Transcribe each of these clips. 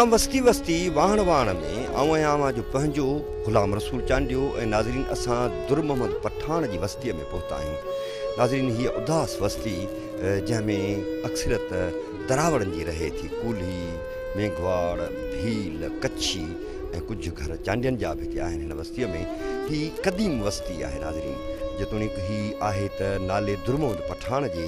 Programme وستي وستي واهڻ واهڻ ۾ آئون آهيان اوهان جو پنهنجو غلام رسول چانڊيو ۽ ناظرين اسان در محمد پٺاڻ جي وستي ۾ پهتا آهيون ناظرين هيء اداس وستي جنهن ۾ اڪثريت دراوڙن جي رهي ٿي. ڪولهي، ميگهواڙ، ڀيل، ڪڇي ۽ ڪجهه گهر چانڊين جا به هتي آهن. هن وستيء ۾ هي قديم وستي آهي ناظرين. جيتوڻيڪ هي آهي ته نالي درمحمد پٺاڻ جي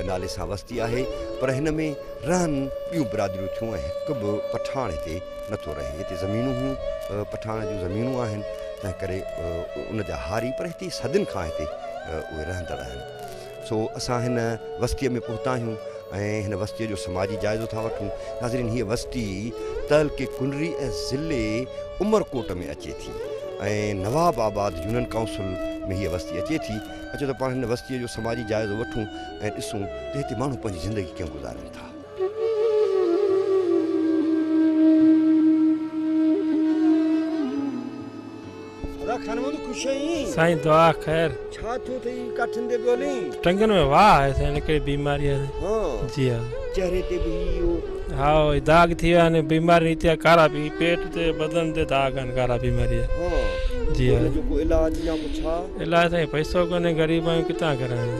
نالي سان وستي آهي پر هن ۾ رهن ٻيون برادريون ٿيون ۽ هڪ به پٺاڻ هتي نه ٿو رهي. هتي زمينون هون پٺاڻن جون زمينون آهن تنهن ڪري ان جا هاري پر هتي صدين کان هتي اهي رهندڙ آهن. سو اسان هن وستيء ۾ پهتا آهيون ۽ هن وستيء جو سماجي جائزو ٿا وٺون. ناظرين هيء وستي تعلقي ڪنري ۽ ضلعي عمرڪوٽ ۾ اچي ٿي ۽ نواب آباد يونين ڪائونسل ۾ هيء وستي اچي ٿي. اچو ته پاڻ هن وستيء جو سماجي جائزو وٺون ۽ ڏسون ته هتي ماڻهو پنهنجي زندگي ڪيئن گذارين ٿا. سائين دعا خير ٽنگن ۾ واهه آهي سائين هن ڪهڙي بيماري آهي جي هاء هاء داغ ٿي ويا آهن بيماري نيتي آهي ڪارا بي پيٽ تي بدن تي داغ آهن ڪارا بيماري جي علاج سائين پئسو ڪونهي غريب آهيون ڪتان ڪرايون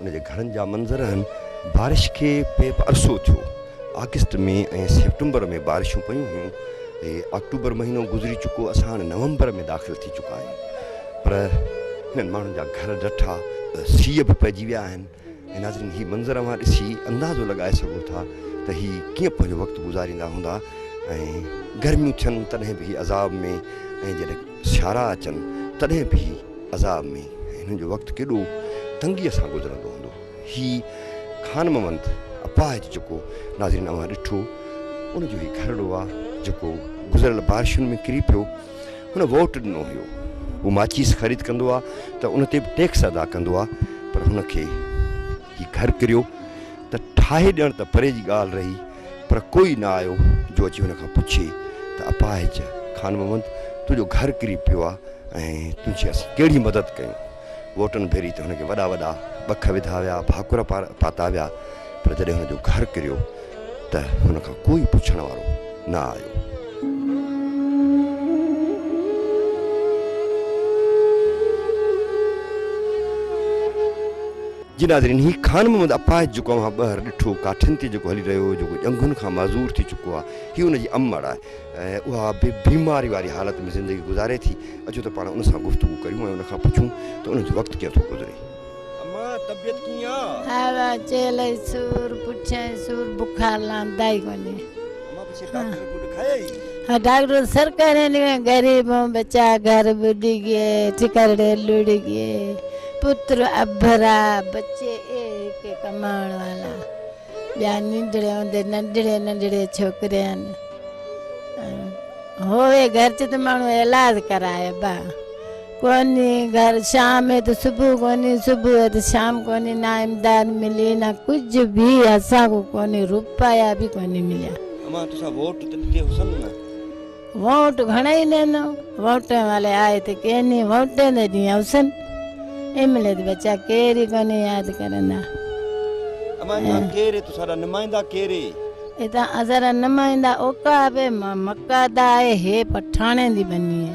ان جي گهرن جا منظر آهن. بارش کي پئي به عرصو ٿيو. آگسٽ مئي ۽ سيپٽمبر ۾ بارشون پيون هيون. هي آڪٽوبر مهينو گذري چڪو اسان هاڻي نومبر ۾ داخل ٿي چڪا آهيون پر هنن ماڻهن جا گهر ڊٺا ته سيء به پئجي ويا آهن ۽ ناظرين هي منظر اوهان ڏسي اندازو لڳائي سگهو ٿا ته هي ڪيئن پنهنجو وقت گذاريندا هوندا ۽ گرميون ٿين تڏهن به هي عذاب ۾ ۽ جڏهن سيارا اچن تڏهن به هي عذاب ۾ هنن جو وقت ڪيڏو تنگيء سان گذرندو هوندو. هي خان محمد اپاهج جيڪو ناظرين اوهان ڏٺو ان جو هي گهرڙو آ جيڪو گذريل بارشن ۾ ڪري پيو. هن ووٽ ڏنو هيو. هو ماچيس خريد ڪندو آ ته ان تي به ٽيڪس ادا ڪندو آ پر هن کي هي گهر ڪريو ته ٺاهي ڏيڻ ته پري جي ڳالهه رهي پر ڪوئي نه آيو جو اچي هن کان پڇي ته اپاهج خان محمد تنهنجو گهر ڪري پيو آ ۽ تنهنجي اسين ڪهڙي مدد ڪيون. ووٽن ڀيري ته هن کي وڏا وڏا ٻک وڌا ويا، ڀاڪر پاتا ويا پر جڏهن هن جو گهر ڪريو ته هن کان ڪوئي پڇڻ وارو نه آيو. جي ناظرين هي خان محمد اپاهج جيڪو اوهان ٻهر ڏٺو ڪاٺين تي جيڪو هلي رهيو هو جيڪو ڄنگهن کان معذور ٿي چڪو آهي هي ان جي امڙ آهي ۽ اها به بيماري واري حالت ۾ زندگي گذاري ٿي اچو ته پاڻ ان سان گفتگو ڪريون ۽ ان کان پڇون ته ان جو وقت ڪيئن ٿو گذري اما طبيعت ڪيئن آ. هاء چيلئي سور پٺيئي سور بخار لهندائي ڪونهي. ڊاڪٽر سر ڪهڙي نيون غريبون بچا گهر ٻڏي گئي ٺڪرڙي لڙي گئي پتر ابرا بچي اي هڪ ڪماڻ والا ٻيا ننڊڙي هوندي ننڊڙي ننڊڙي ڇوڪري آن هوئي گهر چ ته ماڻهو علاج ڪرائي با ڪونهي گهر شام هي ته صبح ڪونهي صبح هي ته شام ڪونهي نه امداد ملي نه ڪجهه به اسان کون ڪونهي روپيا به ڪونهي مليا. امان تسان ووٽ ته ڏتي هوسن نه. ووٽ گهڻائي ڏنو ووٽين والي آئي ته ڪيني ووٽين ته ڏيئي هوسن املي ته ٻچا ڪير ئي ڪونهي ياد ڪرندا. امان تسان ڪير هي تسان را نمائندا ڪير هي. ادا اسان را نمائندا اوڪا به مڪادا هي هي پٺاڻين جي ٻني هي.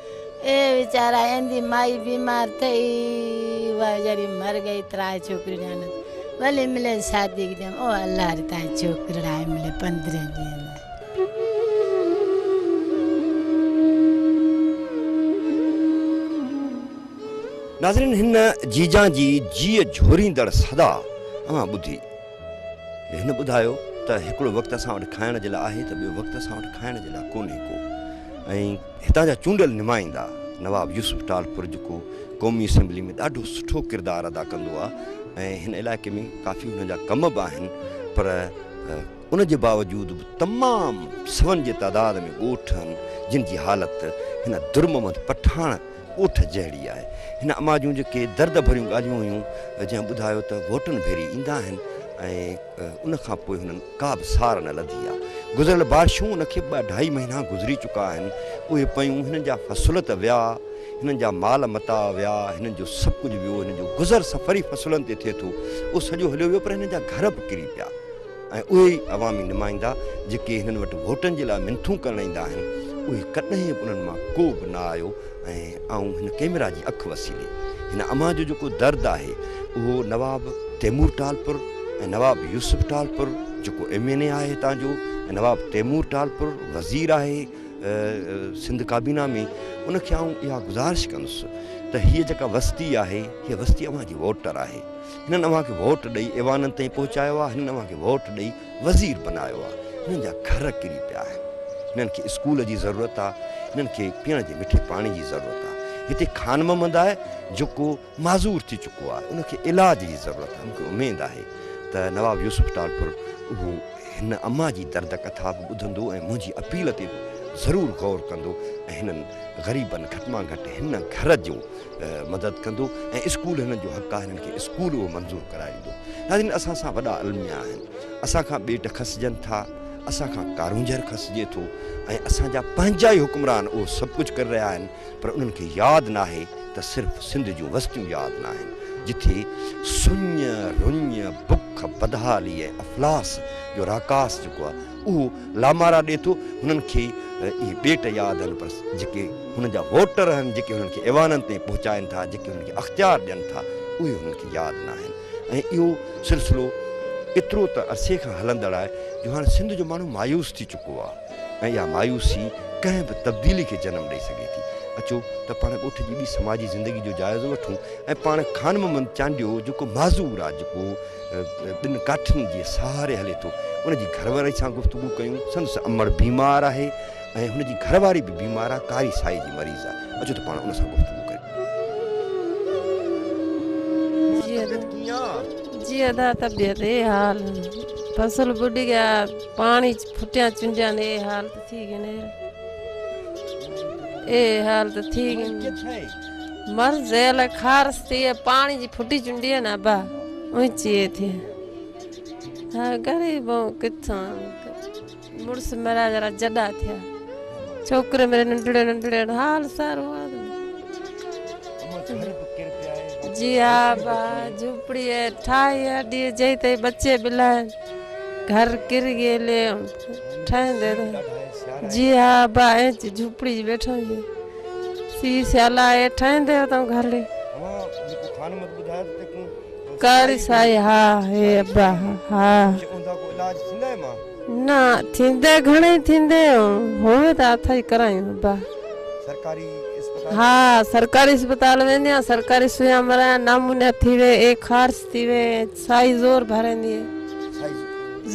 اي ويچارا ايندي مائي بيمار ٿئي ويچاري مر گئي ترائي ڇوڪري نيانت ولي ملي شادي ڪيم او الله ري تائي ڇوڪري رائي ملي پندري ڏي ناظرين هن جيجان جي جيء جهوريندڙ صدا اوهان ٻڌي. هن ٻڌايو ته هڪڙو وقت اسان وٽ کائڻ جي لاء آهي ته ٻيو وقت اسان وٽ کائڻ جي لاء ڪونهي ڪو ۽ هتان جا چونڊيل نمائندا نواب يوسف ٽالپر جيڪو قومي اسيمبلي ۾ ڏاڍو سٺو ڪردار ادا ڪندو آهي ۽ هن علائقي ۾ ڪافي هن جا ڪم به آهن پر ان جي باوجود به تمام سون جي تعداد ۾ ڳوٺ آهن جن جي حالت هن درمحمد پٺاڻ اوٺ جهڙي آهي. هن اما جون جيڪي درد ڀريون ڳالهيون هيون، جنهن ٻڌايو ته گهوٽن ڀيري ايندا آهن ۽ ان کان پوء هنن ڪا به سار نه لڌي آهي. گذريل بارشون ان کي ٻه اڍائي مهينا گذري چڪا آهن، اهي پيون، هنن جا فصل ته ويا، هنن جا مال متاع ويا، هنن جو سڀ ڪجهه ويو، هنن جو گذر سفر ئي فصلن تي ٿئي ٿو، اهو سڄو هليو ويو پر هنن جا گهر به ڪري پيا. ۽ اهي ئي عوامي نمائندا جيڪي هنن وٽ ووٽن جي لاء منٿون ڪرڻ ايندا آهن، اهي ڪڏهن به انهن مان ڪو به نه آيو ۽ آئون هن ڪئميرا جي اک وسيلي هن امان جو جيڪو درد آهي اهو نواب تيمور ٽالپر ۽ نواب يوسف ٽالپر جيڪو ايم اين اي آهي هتان جو ۽ نواب تيمور ٽالپر وزير آهي سنڌ ڪابينا ۾ ان کي آئون اها گذارش ڪندس ته هيء جيڪا وستي آهي هيء وستي اوهان جي ووٽر آهي هنن اوهان کي ووٽ ڏئي ايوانن تائين پهچايو آهي، هنن اوهان کي ووٽ ڏئي وزير بنايو آهي، هنن جا گهر ڪري پيا آهن، هنن کي اسڪول جي ضرورت آهي، هنن کي پيئڻ جي مٺي پاڻي جي ضرورت آهي، هتي خان محمد آهي جيڪو معذور ٿي چڪو آهي، ان کي علاج جي ضرورت آهي، مون کي اميد آهي ته نواب يوسف ٽالپر اهو هن اما جي درد ڪٿا به ٻڌندو ۽ منهنجي اپيل تي به ضرور غور ڪندو ۽ هنن غريبن گهٽ مان گهٽ هن گهر جو مدد ڪندو ۽ اسڪول هنن جو حق آهي هنن کي اسڪول اهو منظور ڪرائيندو ناظرين اسان سان وڏا الميا آهن اسان کان ٻيٽ کسجن ٿا اسان کان ڪارونجهر کسجي ٿو ۽ اسان جا پنهنجا ئي حڪمران اهو سڀ ڪجهه ڪري رهيا آهن پر انهن کي ياد ناهي ته صرف سنڌ جون وستيون ياد ناهن جٿي سڃ رڃ بک بدحالي ۽ افلاس جو راڪاس جيڪو آهي اهو لامارا ڏئي ٿو هنن کي اهي ٻيٽ ياد آهن پر جيڪي هنن جا ووٽر آهن جيڪي هنن کي ايوانن تائين پهچائن ٿا جيڪي هنن کي اختيار ڏين ٿا اهي هنن کي ياد نه آهن ۽ اهو سلسلو ايترو ته عرصي کان هلندڙ آهي جو هاڻي سنڌ جو ماڻهو مايوس ٿي چڪو آهي ۽ اها مايوسي ڪنهن به تبديلي کي جنم ڏئي سگهي ٿي اچو ته پاڻ ڳوٺ جي ٻي سماجي زندگي جو جائزو وٺون ۽ پاڻ خانمحمد چانڊيو جيڪو معذور آهي جيڪو ٻن ڪاٺين جي سهاري هلي ٿو. ان جي گهرواري سان گفتگو ڪيون. سندس امڙ بيمار آهي ۽ هن جي گهرواري به بيمار آهي، ڪاري سائي جي مريض آهي. اچو ته پاڻ ان سان گفتگو ڪريون. جي ادا، طبيعت ڪيئن آهي؟ جي ادا، طبيعت اي حال. فصل ٻڏ ڳيا، پاڻي ڦٽيان چنڊيان اي حال ته ٿي ڳين. اي حال ته ٿي ڳين. مر زيل خارس تي پاڻي جي ڦٽي چنڊي نه با اونچي تي ها غريب ڪٿان مڙس مرا جرا جدا ٿيا ڇوڪري مري ننڍڙي ننڍڙي حال سارو جي ها با جھوپڙي ٺاهي اڏي جي تي بچي بلا گھر ڪر گئي لي ٺاهندي جي ها با جھوپڙي جي بيٺو جي سي سيالا اي ٺاهين ديو تون گهرڙي ڪاري سائي ها هي ابا ها نا ٿيندي گهڻي ٿيندي هوي ته اٿائي ڪرايون ابا سرڪاري ها سرڪاري اسپتال ويندي آ سرڪاري سويا مرا نامونيا ٿي وي اي خارس ٿي وي سائي زور ڀرندي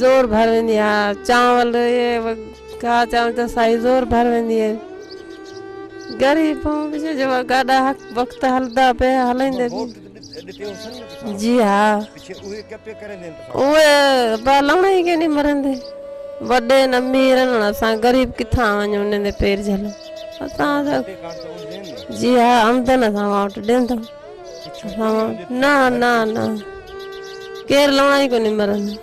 زور ڀرندي ها چانول اي ڪا چاون ته سائي زور ڀر ويندي آهي گري پون بجي جو گاڏا حق وقت هلدا پي هلندي جي ها او با لوڻ هي ڪيني مرندي وڏي ن امير ن اسان غريب ڪٿا ونيو ن دي پير جل اسان جي ها آمدن اسان واٽ ڏيندو نا نا نا ڪير لوڻ هي ڪوني مرندي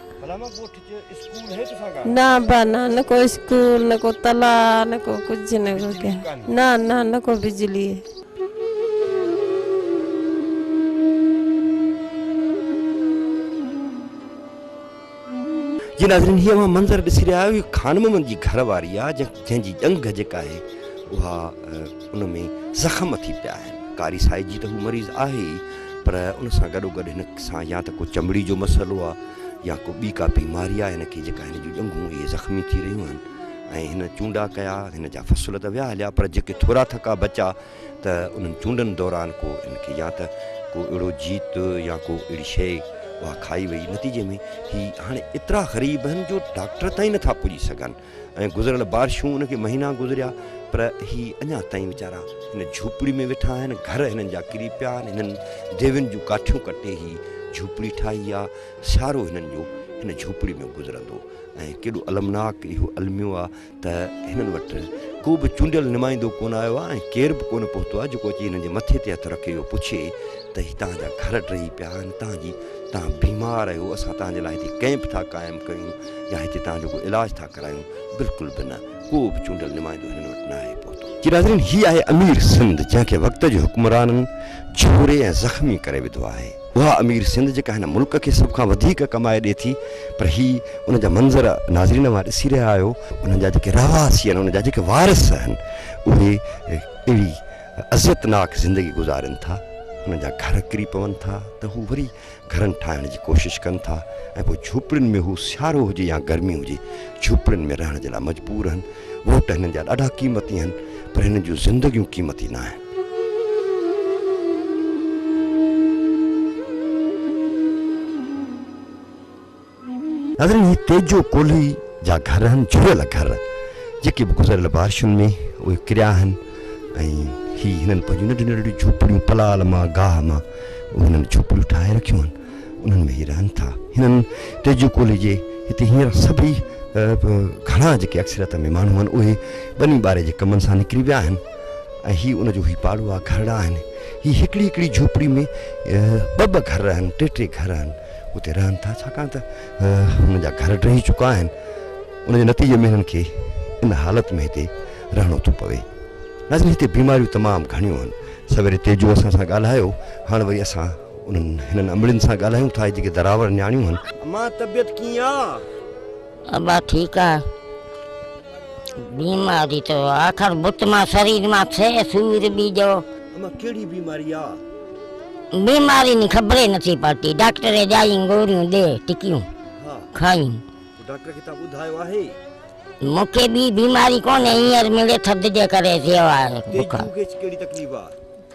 نه ابا نه نه ڪو اسڪول نه ڪو تلا نه ڪو ڪجهه نه ڪو ڪيا نه نه نه ڪو بجلي جي ناظرين هي اوهان منظر ڏسي رهيا آهيو هي خان محمد جي گهر واري آهي جنهن جي ڄنگهه جيڪا آهي اها ان ۾ زخم ٿي پيا آهن ڪاري سائي جي ته هو مريض آهي پر ان سان گڏو گڏ هن سان يا ته ڪو چمڙي جو مسئلو آهي يا ڪو ٻي ڪا بيماري آهي هن کي جيڪا هن جون ڄنگهون اهي زخمي ٿي رهيون آهن ۽ هن چونڊا ڪيا هن جا فصل ته ويا هليا پر جيڪي ٿورا ٿڪا بچا ته انهن چونڊن دوران ڪو هن کي يا ته ڪو اهڙو جيت يا ڪو اهڙي شيء اها کائي وئي نتيجي ۾ هي هاڻي ايترا غريب آهن جو ڊاڪٽر تائين نٿا پڄي سگهن ۽ گذريل بارشون ان کي مهينا گذريا پر هي اڃا تائين ويچارا هن جهوپڙي ۾ ويٺا آهن گهر هنن جا ڪري پيا آهن هنن ديوين جون ڪاٺيون ڪٽي هي جهوپڙي ٺاهي آ سيارو هنن جو هن جهوپڙي ۾ گذرندو ۽ ڪيڏو المناڪ اهو الميو آ ته هنن وٽ ڪو به چونڊيل نمائندو ڪون آيو آ ۽ ڪير به ڪون پهتو آ جيڪو اچي هنن جي مٿي تي هٿ رکي اهو پڇي ته هي تهان جا گهر ڊهي پيا آهن تهان جي تهان بيمار آهيو اسان تهان جي لاء هتي ڪئمپ ٿا قائم ڪيون يا هتي توهان جو ڪو علاج ٿا ڪرايون، بلڪل به نه، ڪو به چونڊيل نمائندو هنن وٽ ناهي پهتو. جي ناظرين هي آهي امير سنڌ جنهن کي وقت جي حڪمرانن جهوري ۽ زخمي ڪري وڌو آهي. اها امير سنڌ جيڪا هن ملڪ کي سڀ کان وڌيڪ ڪمائي ڏي ٿي پر هي ان جا منظر ناظرين اوهان ڏسي رهيا آهيو انهن جا جيڪي رهواسي آهن انهن جا جيڪي وارث آهن اهي اهڙي اذيتناڪ زندگي گذارين ٿا انهن جا گهر ڪري پون ٿا ته هو وري گهرن ٺاهڻ جي ڪوشش ڪن ٿا ۽ پوء جهوپڙين ۾ هو سيارو هجي يا گرمي هجي جهوپڙين ۾ رهڻ جي لاء مجبور آهن. ووٽ هنن جا ڏاڍا قيمتي آهن پر هنن جون زندگيون قيمتي نه آهن. ناظرين هي تيجو ڪولهي جا گهر آهن جهڙيل گهر جيڪي به گذريل بارشن ۾ اهي ڪريا آهن ۽ هي هنن پنهنجون ننڍيون ننڍيون جهوپڙيون پلال مان گاهه مان اهي هنن جهوپڙيون ٺاهي رکيون آهن انهن ۾ هي رهن ٿا هنن تيجو ڪولهي جي هتي هينئر سڀئي گهڻا جيڪي اڪثريت ۾ ماڻهو آهن اهي ٻني ٻاري جي ڪمن سان نڪري ويا آهن ۽ هي ان جو هي پاڙو آهي گهرڙا آهن هي هڪڙي هڪڙي جهوپڙي ۾ ٻه ٻه گهر آهن ٽي ٽي گهر آهن اتي رهن ٿا ڇاڪاڻ ته هنن جا گهر ڊهي چڪا آهن ان جي نتيجي ۾ هنن کي ان حالت ۾ هتي رهڻو ٿو پوي ناظرين هتي بيماريون تمام گهڻيون آهن سويري تيجو اسان سان ڳالهايو هاڻ وري اسان انهن هنن امڙين سان ڳالهايون ٿا جيڪي دراور نياڻيون آهن امان طبيعت ڪيئن آ؟ ابا ٺيڪ آ بيماري تو آخر بت مان سرير مان ٿئي سور ٻي جو. اما ڪهڙي بيماري آ. بيماري ني خبر ئي نٿي پئتي ڊاڪٽر ئي ڄائين گوريون ڏي ٽڪيون کائين. تو ڊاڪٽر کي تان ٻڌايو آهي. مون کي ٻي بيماري ڪونهي هينئر مڙي ٿڌ جي ڪري ٿيو آهي بخار. تيجو کي ڪهڙي تڪليف آ.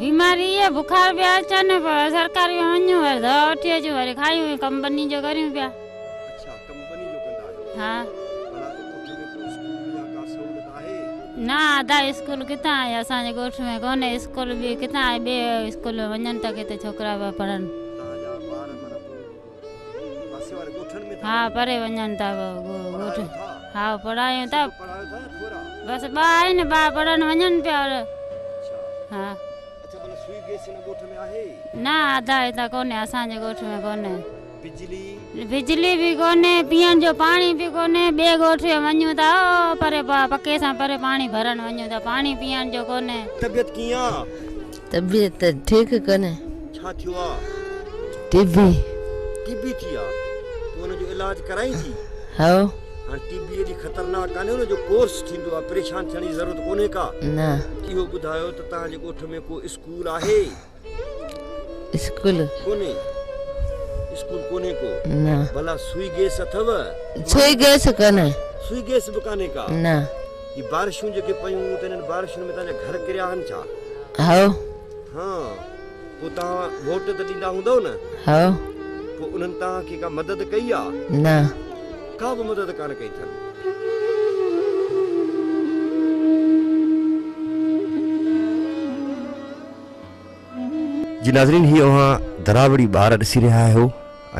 بيماري اهي بخار پيا اچن سرڪاري ۾ وڃون وري دوا وٺي اچون وري کايون ۽ ڪم ٻني جو ڪريون پيا اڇا ڪم ٻني جو ڪندا آهيو ها ڀلا ڳوٺ ۾ ڪو اسڪول يا ڪا سهولت آهي نه ادا اسڪول ڪٿان آهي اسان جي ڳوٺ ۾ ڪونه اسڪول به ڪٿان آهي ٻي اسڪول ۾ وڃن ته ڪٿي ڇوڪرا پيا پڙهن تهان جا ٻار معنيٰ ها پري وڃن ٿا ها پڙهايون ٿا بس ٻه آهن ٻا پڙهڻ وڃن پيا ها نه آڌا هتان ڪونهي اسانجي ڳوٺ ۾ ڪونهي بجلي به ڪونهي پيئڻ جو پاڻي به ڪونهي ٻئي ڳوٺ ۾ وڃون ٿا پري پڪي سان پري پاڻي ڀرڻ وڃون ٿا پاڻي پيئڻ جو ڪونهي طبيعت ڪيئن طبيعت ٺيڪ ڪونهي. ڇا ٿيو آ؟ ٽي بي. ٽي بي ٿي آ؟ تون ان جو علاج ڪرائين ٿي؟ ها. هاڻ ٽي بي ايڏي خطرناڪ ڪانهي ان جو ڪورس ٿيندو آ پريشان ٿيڻ جي ضرورت ڪونهي ڪا. نه. اهو ٻڌايو ته توهان جي ڳوٺ ۾ ڪو اسڪول آهي؟ اسڪول. ڪونهي. اسڪول ڪونهي ڪو. نه. ڀلا سوئي گيس اٿو؟ سوئي گيس ڪانهي. سوئي گيس به ڪانهي ڪا. نه. هي بارشون جيڪي پيون ته انهن بارشن ۾ تنهنجا گهر ڪريا آهن ڇا؟ هئو. ها. پوء توهان ووٽ ته ڏيندا هوندؤ نه؟ هئو. پوء انهن توهان کي ڪا مدد ڪئي آ؟ نه. ڪا به مدد ڪانه ڪئي اٿن. جي ناظرين هي اوهان دراوڙي ٻار ڏسي رهيا آهيو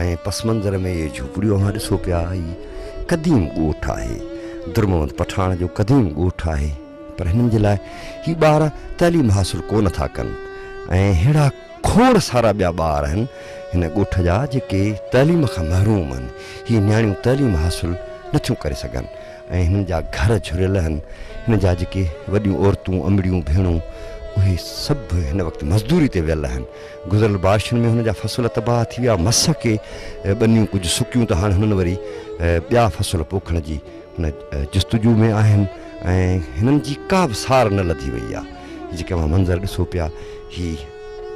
۽ پس منظر ۾ اهي جهوپڙيون اوهان ڏسو پيا هي قديم ڳوٺ آهي درمحمد پٺاڻ جو قديم ڳوٺ آهي پر هنن جي لاء هي ٻار تعليم حاصل ڪو نه ٿا ڪن ۽ ههڙا کوڙ سارا ٻيا ٻار آهن هن ڳوٺ جا جيڪي تعليم کان محروم آهن هي نياڻيون تعليم حاصل نه ٿيون ڪري سگهن ۽ هنن جا گهر جهريل هن هن جا جيڪي وڏيون عورتون امڙيون ڀيڻون اهي سڀ هن وقت مزدوري تي ويل هن گذريل بارشن ۾ هن جا فصل تباهه ٿي ويا مس ڪي ٻنيون ڪجهه سڪيون ته هاڻ هنن وري ٻيا فصل پوکڻ جي هن جستجو ۾ آهن ۽ هنن جي ڪا به سار نه لڌي وئي آهي جيڪي اوهان منظر ڏسو پيا هي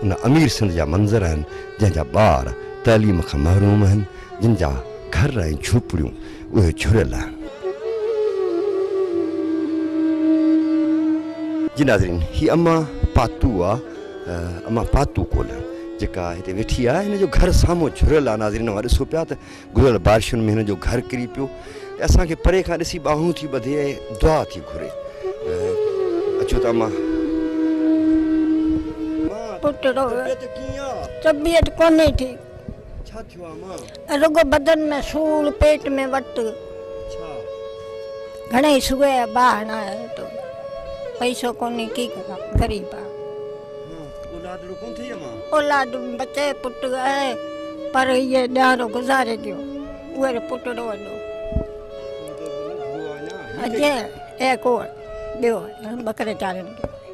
ان امير سنڌ جا منظر هن جنهن جا ٻار تعليم کان محروم هن جن جا گهر ۽ جهوپڙيون اهي جهريل آهن. جي ناظرين هي اما پاتو آ اما پاتو ڪول جيڪا هتي ويٺي آ هن جو گهر سامهون جهريل آ ناظرين اوهان ڏسو پيا ته گذريل بارشن ۾ هن جو گهر ڪري پيو ۽ اسان کي پري کان ڏسي ٻانهون ٿي ٻڌي ۽ دعا ٿي گهري اچو ته اما پٽڙو طبيعت ڪونهي ٺيڪ. ڇا ٿيو آ مان؟ رڳو بدن ۾ سور، پيٽ ۾ وٽ. ڇا؟ گهڻي سوء آ باهه نه آهي تو. پئسو ڪونهي ڪي ڪران غريب آ. اولادڙو ڪونه ٿئي آ مان؟ اولاد بچي پٽ آهي پر هيء ڏيارو گذاري ڏيو. اهو ري پٽڙو وڏو. اڄ اي ڪوڙ ٻيو ٻڪري چاريندو.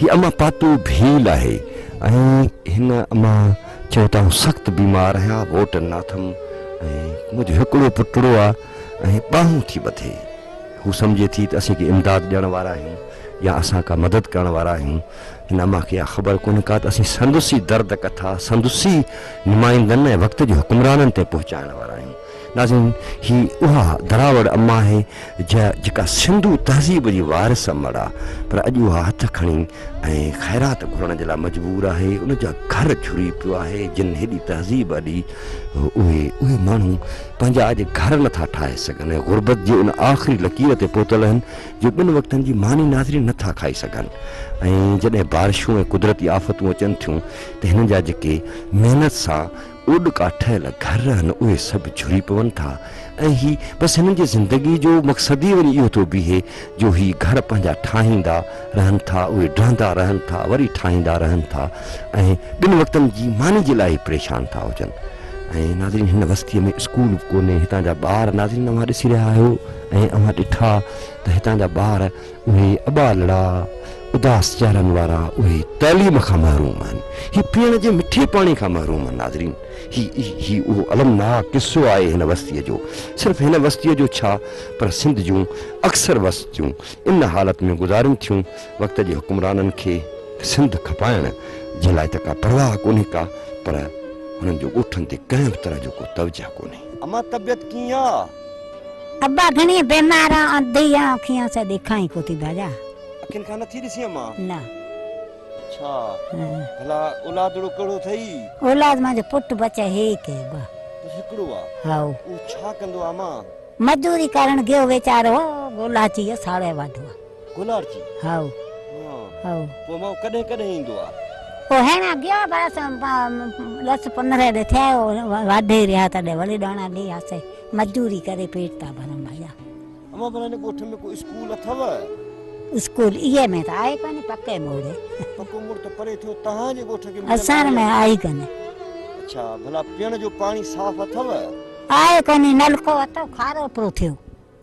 هي امان پاتو ڀيل آهي ۽ هن امان چيو ته آئون سخت بيمار آهيان ووٽ نه اٿم ۽ منهنجو هڪڙو پٽڙو آهي ۽ ٻانهون ٿي ٻڌي. هو سمجهي ٿي ته اسين ڪي امداد ڏيڻ وارا آهيون يا اسان ڪا مدد ڪرڻ وارا آهيون. هن امان کي اها خبر ڪونهي ڪا ته اسين سندس ئي درد ڪٿا سندس ئي نمائندن ۽ وقت جي حڪمرانن تائين پهچائڻ وارا آهيون. ناظرين! هي اها دراوڙ اما آهي جا جيڪا سنڌو تهذيب جي وارث امڙ آ پر اڄ اها هٿ کڻي ۽ خيرات گهرڻ جي لاء مجبور آهي، ان جا گهر جهري پيو آهي، جن هيڏي تهذيب اڏي، اهي اهي ماڻهو پنهنجا اڄ گهر نٿا ٺاهي سگهن ۽ غربت جي ان آخري لڪير تي پهتل اهن جو ٻن وقتن جي ماني ناظري نٿا کائي سگهن ۽ جڏهن بارشون ۽ قدرتي آفتون اچن ٿيون ته هنن جا جيڪي محنت سان اوڏڪا ٺهيل گهر آهن اهي سڀ جهري پون ٿا ۽ هي بس هنن جي زندگي جو مقصد ئي وڃي اهو ٿو بيهي جو هي گهر پنهنجا ٺاهيندا رهن ٿا اهي ڊهندا رهن ٿا وري ٺاهيندا رهن ٿا ۽ ٻن وقتن جي ماني جي لاء ئي پريشان ٿا هجن ۽ ناظرين هن وستيء ۾ اسڪول به ڪونهي هتان جا ٻار ناظرين اوهان ڏسي رهيا آهيو ۽ اوهان ڏٺا ته هتان جا ٻار اهي اٻالڙا اداس چهرن وارا اهي تعليم کان محروم آهن هي پيئڻ جي مٺي پاڻي کان محروم آهن ناظرين هي هي اهو المناڪ قصو آهي هن وستيء جو صرف هن وستيء جو ڇا پر سنڌ جون اڪثر وستيون ان حالت ۾ گذارين ٿيون وقت جي حڪمرانن کي سنڌ کپائڻ جي لاء ته ڪا پرواهه ڪونهي ڪا پر هنن جو ڳوٺن تي ڪنهن به طرح جو ڪو توجهه ڪونهي. اما طبيعت ڪيئن آ؟ ابا گھڻي بيمار آن انڌي آن اکين آن سي ڏيکان ئي ڪوتي ڀاڄا. اکين کان نٿي ڏسين اما. نه. اڇا ڀلا اولادڙو ڪهڙو اٿئي؟ اولاد منهنجو پٽ بچ هيڪ هي ابا. بس هڪڙو آ. هائو. اهو ڇا ڪندو آ اما؟ مزدوري ڪرڻ گيو ويچارو گولاچي جو ساڙهي واڌو آ. گولاڙچي؟ هائو. هائو. پوء اما اهو ڪڏهن ڪڏهن ايندو آ؟ اهو هيڻان گيو آ بس ڏس پنرهن ڏينهن ٿيا واڍي رهيا تڏهن وري ڏاڻا ڏي آسي. مزدوري ڪري پيٽ ٿا ڀرون ڀيا. امان ڀلا هن ڳوٺ ۾ ڪو اسڪول اٿو؟ اسڪول اي ۾ ته آهي ڪانه پڪي موڙ. پڪو موڙ ته پري ٿيو تهان جي ڳوٺ کي. اسان ۾ آهي ڪانه. اڇا ڀلا پيئڻ جو پاڻي صاف اٿو؟ آهي ڪانه نلڪو اٿو کارو پيو ٿيو.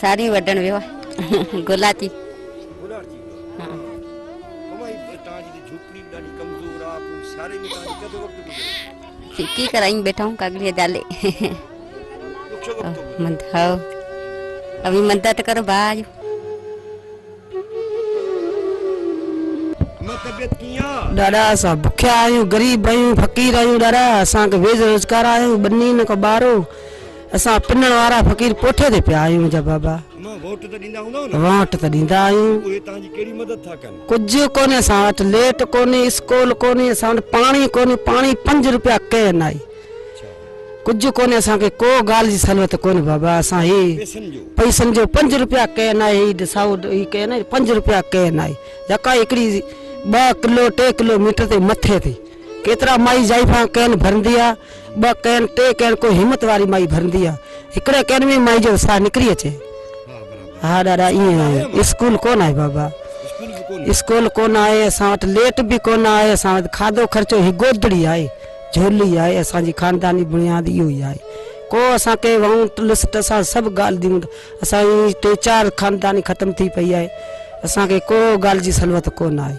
ساري وڍڻ ويو آهي گلاچي سڪي ڪرائين بيٺا آهيون ڪاڳڙي جالي مند هاو اوي مند ته ڪرو با جو ڏاڏا اسان بکيا آهيون غريب آهيون فقير آهيون ڏاڏا اسان کي ويج روزگار آهيو ٻني نه ڪو ٻارو اسان پنڻ وارا فقير پوٺي تي پيا آهيون جا بابا وونٽ ته ڏيندا هوندؤ نه وونٽ ته ڏيندا آهيون اهي توهان جي ڪهڙي مدد ٿا ڪن ڪجهه ڪونهي اسان وٽ ليٽ ڪونهي اسڪول ڪونهي اسان وٽ پاڻي ڪونهي پاڻي پنج روپيا ڪين آهي ڪجهه ڪونهي اسان کي ڪو ڳالهه جي سهولت ڪونهي بابا اسان هي پئسن جو پنج روپيا ڪين آهي هي ڏسائو هي ڪين آهي پنج روپيا ڪين آهي جڪا هڪڙي ٻه ڪلو ٽي ڪلو ميٽر تي مٿي تي ڪيترا مائي ضعيفان ڪين ڀرندي آ، ٻه ڪين، ٽي ڪين ڪو همت واري مائي ڀرندي آ، هڪڙي ڪين ۾ مائي جو ساهه نڪري اچي. ها ڏاڏا ائين آهي اسڪول ڪون آهي بابا اسڪول ڪون آهي اسان وٽ ليٽ به ڪون آهي اسان وٽ کاڌو خرچو هي گودڙي آهي جهولي آهي اسان جي خانداني بڻياد اهو ئي آهي ڪو اسان کي وانٽ لسٽ اسان سڀ ڳالهه ديون اسان جي ٽي چار خانداني ختم ٿي پئي آهي اسان کي ڪو ڳالهه جي سلوت ڪون آهي.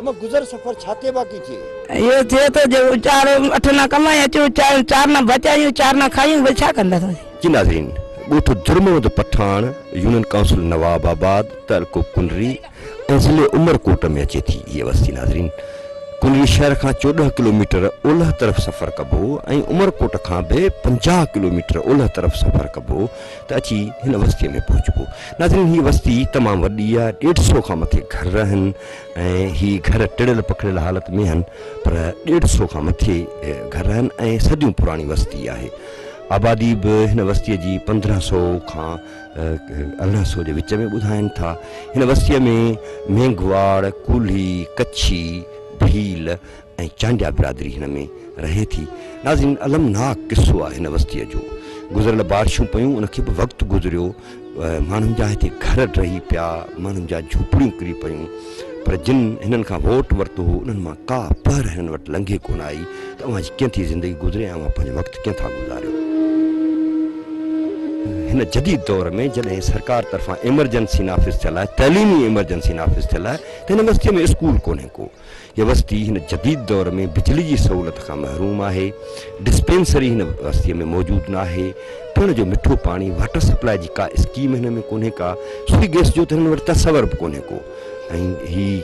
اما گذر سفر ڇاتي باقي ٿئي. اهو ٿئي ٿو جو چار اٺ نه ڪمائي اچون چار نه بچايون چار نه کائيون وري ڇا ڪنداسين. جي ناظرين ڳوٺ Jarmund Pathan union council Nawabad تعلقو ڪنري ۽ ضلعي عمرڪوٽ ۾ اچي ٿي هيء وستي ناظرين ڪنري شهر کان چوڏهن ڪلوميٽر اولهه طرف سفر ڪبو ۽ عمرڪوٽ کان به پنجاهه ڪلوميٽر اولهه طرف سفر ڪبو ته اچي هن وستيء ۾ پهچبو. ناظرين هيء وستي تمام وڏي آ، ڏيڍ سو کان مٿي گهر آهن ۽ هي گهر ٽڙيل پکڙيل حالت ۾ آهن پر ڏيڍ سو کان مٿي گهر آهن ۽ صديون پراڻي وستي آهي. آبادي به هن وستيء جي پندرهن سو کان ارڙهن سو جي وچ ۾ ٻڌائين ٿا. هن وستيء ۾ مينگهواڙ، ڪولهي، ڪڇي، ڀيل ۽ چانڊيا برادري هن ۾ رهي ٿي. ناظرين المناڪ قصو آهي هن وستيء جو. گذريل بارشون پيون ان کي به وقت گذريو. ماڻهن جا هتي گهر ڊهي پيا، ماڻهن جا جهوپڙيون ڪري پيون. پر جن هنن کان ووٽ ورتو هو انهن مان ڪا پهر هنن وٽ لنگهي ڪونه آئي ته اوهان جي ڪئين ٿي زندگي گذري ۽ اوهان پنهنجو وقت ڪئين ٿا گذاريو. هن جديد دور ۾ جڏهن سرڪار طرفان ايمرجنسي نافذ ٿيل آهي، تعليمي ايمرجنسي نافذ ٿيل آهي ته هن وستيء ۾ اسڪول ڪونهي ڪو. هيء وستي هن جديد دور ۾ بجلي جي سهولت کان محروم آهي، ڊسپينسري هن وستيء ۾ موجود ناهي، پيڻ جو مٺو پاڻي، واٽر سپلاء جي ڪا اسڪيم هن ۾ ڪونهي ڪا، سوئي گيس جو ته هنن وٽ تصور به ڪونهي ڪو ۽ هي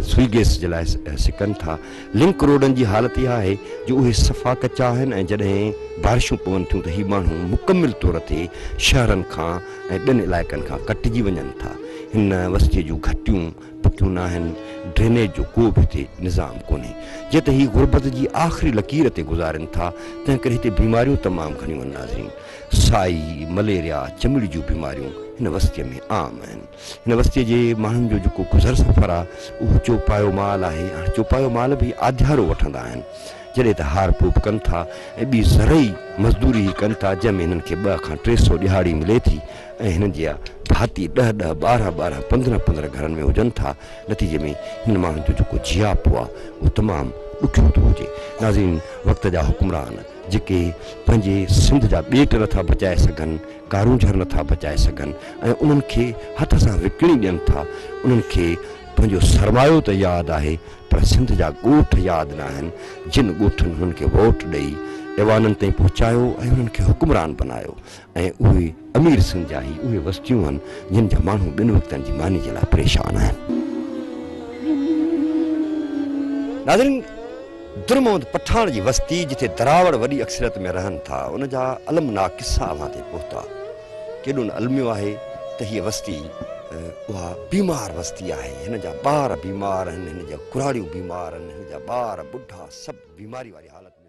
سوئي گيس جي لاء سڪن ٿا. لنڪ روڊن جي حالت اها آهي جو اهي صفا ڪچا آهن ۽ جڏهن بارشون پون ٿيون ته هي ماڻهو مڪمل طور تي شهرن کان ۽ ٻين علائقن کان ڪٽجي وڃن ٿا. هن وستيء جون گهٽيون پھتيون ناھن، ڊرينيج جو ڪو به ھتي نظام ڪونھي، جيئن ته ھي غربت جي آخري لڪير تي گذارين ٿا، تنھن ڪري ھتي بيماريون تمام گھڻيون آھن ناظرين، سائي، مليريا، چمڙي جون بيماريون ھن وستيء ۾ عام آھن، ھن وستيء جي ماڻھن جو جيڪو گذر سفر آ، اھو چوپايو مال آھي، ھاڻ چوپايو مال به ھي آڌيارو وٺندا آھن، جڏھن ته ھار ڦوپ ڪن ٿا ۽ ٻي زرعي مزدوري ھي ڪن ٿا، جنھن ۾ ھنن کي ٻه کان ٽي سئو ڏھاڙي ملي ٿي، ۽ هنن جيا ڀاتي ڏهه ڏهه، ٻارهن ٻارهن، پندرهن پندرهن گهرن ۾ هجن ٿا، نتيجي ۾ هنن ماڻهن جو جيڪو جياپو آ، اهو تمام ڏکيو ٿو هجي. ناظرين! وقت جا حڪمران جيڪي پنهنجي سنڌ جا ٻيٽ نٿا بچائي سگهن، ڪارونجهر نٿا بچائي سگهن ۽ انهن کي هٿ سان وڪڻي ڏين ٿا، انهن کي پنهنجو سرمايو ته ياد آهي، پر سنڌ جا ڳوٺ ياد ناهن، جن ڳوٺن هنن کي ووٽ ڏئي ايوانن تائين پهچايو ۽ هنن کي حڪمران بنايو، ۽ اهي امير سنڌ جا هي اهي وستيون آهن جن جا ماڻهو ٻن وقتن جي ماني جي لاء پريشان آهن. ناظرين در محمد پٺاڻ جي وستي جتي دراوڙ وڏي اڪثريت ۾ رهن ٿا ان جا المناڪ قصا اوهان تائين پهتا. ڪيڏو نه الميو آهي ته هيء وستي اها بيمار وستي آهي هن جا ٻار بيمار آهن هن جا ڪراڙيون بيمار آهن هن جا ٻار ٻڍا سڀ بيماري واري حالت ۾